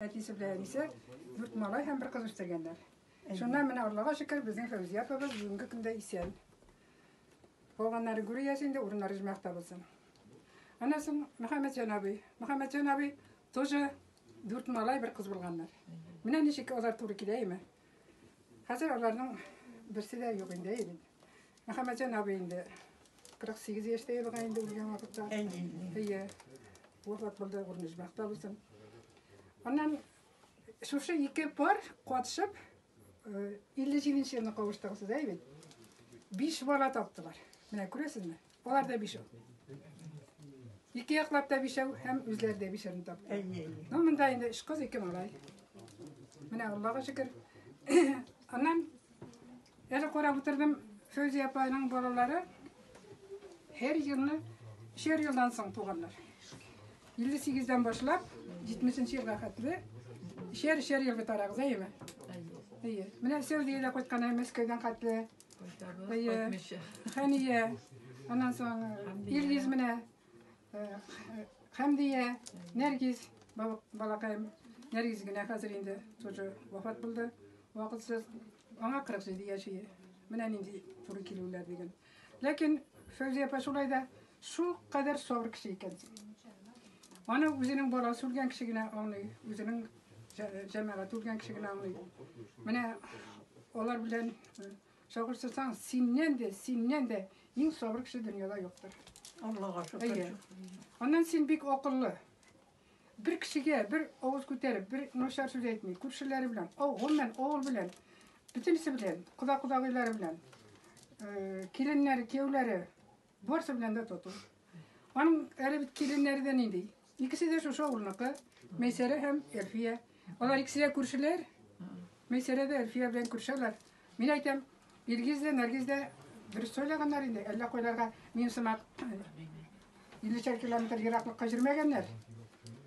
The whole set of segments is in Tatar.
Әтисе белән әнисе дүрт малай һәм бер кыз үстергәннәр. Шуннан менә Аллага шөкер, безнең Фәүзия апабыз бүгенге көндә исән. Калганнары гүр иясе инде, урыннары җмәхтә булсын. Аннан соң Мөхәммәтҗан абый. Мөхәммәтҗан абый тоже дүрт малай, бер кыз булганнар. Менә ничек алар туры килә име? Хәзер аларның берсе дә юк инде әйбит. Мөхәммәтҗан абый инде 48 яшьтә елга инде үлгән вакытта. Әйе. Вафат булды, урыны бәхтә булсын. Аннан шушы ике пар катышып 57 елны кавыштыгыз сез әйбит. 5 бала таптылар. Менә күрәсезме? Алар да бишәү. Ике яклап та бишәү һәм үзләре дә бишәрне тапты. Ну, монда инде өч кыз, ике малай. Менә Аллага шөкер. Аннан әле карап утырдым, Фәүзия апаның балалары һәр елны шер елдан соң туганнар. 58-дән башлап 70-нче елга хәтле шер шер елга тарагыз, әйеме? Әйе. Менә Сәүдиядә кайткан һәм Мәскәүдән хәтле Хәния, аннан соң Илгиз менә, Хәмдия, Нәргиз, балакаем, Нәргиз генә хәзер инде тоже вафат булды, вакытсыз, аңа 47 яши, менә нинди туры килүләр диген. Ләкин Фәүзия апа шулай да Шул кадәр сабыр кеше икән син. Аны үзенең баласы үлгән кеше генә аңлый, үзенең җәмәгате үлгән кеше генә аңлый. Менә алар белән чагыштырсаң, синнән дә, синнән дә иң сабыр кеше дөньяда юктыр. Аллага шөкер. Аннан син бик акыллы. Бер кешегә бер авыз күтәреп, бер начар сүз әйтми, күршеләре белән, гомумән авыл белән, бөтенесе белән, кода-кодагыйлары белән, киленнәре, кияүләре, Барсы белән дә тату. Аның әле бит киленнәре дә нинди. Икесе дә шушы авылныкы, Мәйсәрә һәм Әлфия. Алар икесе дә күршеләр. Мәйсәрә дә Әлфия белән күршәләр. Мин әйтәм, Илгиз дә, Нәргиз дә дөрес сөйләгәннәр инде. Әллә кайларга мин сымак 50 километр ераклыкка җөрмәгәннәр.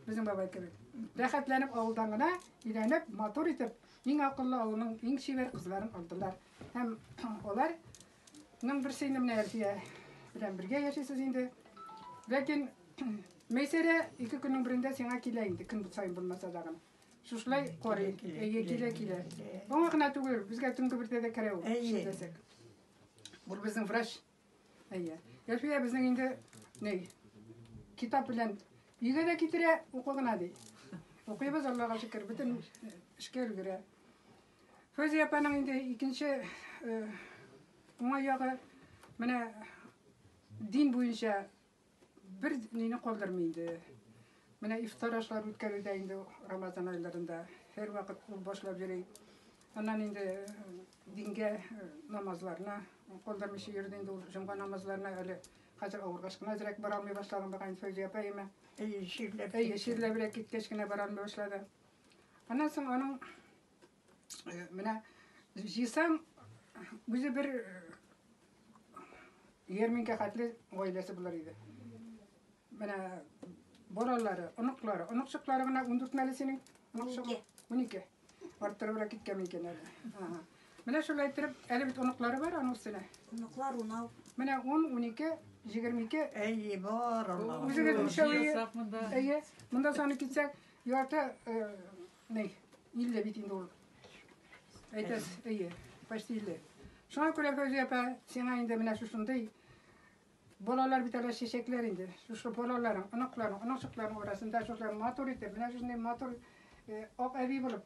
Безнең бабай кебек. Рәхәтләнеп авылдан гына өйләнеп, матур итеп, иң акыллы авылның иң чибәр кызларын алдылар. Һәм алар Ның берсе инде менә Әлфия белән бергә яшисез инде. Ләкин Мәйсәрә ике көннең берендә сиңа килә инде, көн саен булмаса да гына. Шушылай карый, әйе, килә, килә. Аңа гына түгел, безгә төнге бердә дә керә ул, шәйләсәк. Бул безнең врач. Әйе. Әлфия безнең инде, ней, китап белән өйгә дә китерә, укы гына ди. Укыйбыз, Аллага шөкер, бөтен эшкә өлгерә. Фәүзия апаның инде икенче уңай ягы менә дин буенча бер нине калдырмый инде. Менә ифтар ашлар үткәрүдә инде Рамазан айларында һәрвакыт ул башлап йөри. Аннан инде э, дингә э, намазларына калдырмыйча йөрде инде ул җомга намазларына әле хәзер авыргач кына әзрәк бара алмый башлаган булган Фәүзия апаема. Әйе, чирләп. Әйе, чирләбрәк киткәч кенә бара алмый башлады. Аннан соң аның э, менә җыйсаң үзе бер ярминкә э, хәтле гаиләсе булыр иде. Менә балалары, оныклары, оныкчыклары гына 14 мәле синең? 12. 12. Арттырыбрак киткән икән әле. Ага. Менә шулай иттереп, әле бит оныклары бар аның өстенә. Оныклар унау. Менә 10, 12, 22. Әйе, бар Аллаһ. Үзегез өчәү. Әйе. Монда саны китсәк, Ярты ней, илле бит инде ул. Әйтәс, әйе, почти илле. Шуңа күрә Фәүзия апа, сиңа инде менә шушындый балалар бит әле чәчәкләр инде. Шушы балаларың, оныкларың, оныкчыкларың арасында шулай матур итеп, менә шушындый матур ак әби булып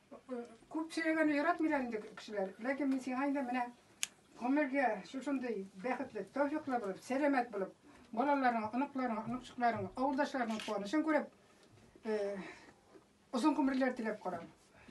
Күп сөйләгәнне яратмыйлар инде кешеләр. Ләкин мин сиңа инде менә гомергә шушындый бәхетле, тәүфиклы булып, сәламәт булып, балаларың, оныкларың, оныкчыкларың, авылдашларың куанычын күреп, озын гомерләр теләп карам.